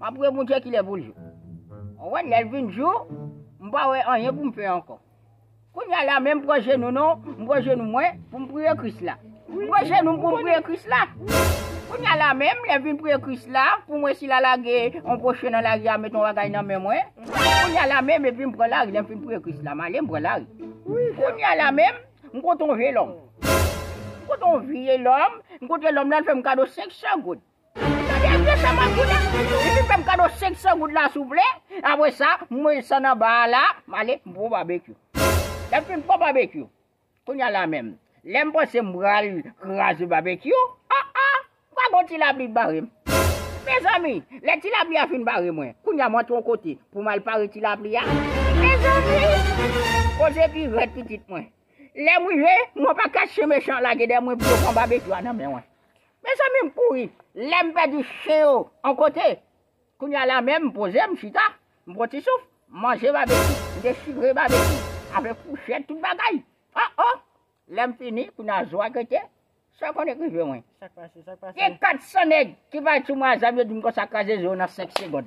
Map priye Bondye kilè poul jou. Ou wè lèl vin jou, m pa wè anyen pou m fè ankò. Kounya la menm pran jenou nou, m pran jenou mwen pou m priye Kris la. M pran jenou m pou m priye Kris la. Kounya la menm lè m vin priye Kris la pou mwen si la lage yon pwochen nan lari a met yon bagay nan men mwen. Kounya la menm epi m pran lari lè m fin priye Kris la m ale m pran lari. Kounya la menm m kontre yon vye lòm. M kontre yon vye lòm, m kontre lòm nan l fè m kado 500 goud. Tande vye sa map di w la Depi fèm kado 500 goud la souple Apre sa mwen desann anba a la Male m pran babekyou Lèm fin pran babekyou Kounya la menm Lèm panse m pral kraze babekyou A a Pa gon ti lapli k bare m Mezanmi Lè ti lapli a fin bare mwen Kounya m antre yon kote Pou m al pare ti lapli a Mezanmi Koze pi rèd pitit mwen Lèm rive Mwen pa kache mechan lage dèyè mwen Pou yo pran babekyou a nan men mwen Mezanmi m kouri lè m pèdi chen yo on kote. Kounya la menm m poze m chita, m pran ti souf, m manje babeki, m dechire babeki avèk fouchèt tout bagay. O o! Lè m fini, kounya zo a grete. Sa konn rive mwen. Gen 400 nèg ki pale sou mwen a zam yo di m konsa kraze zo nan 5 segond.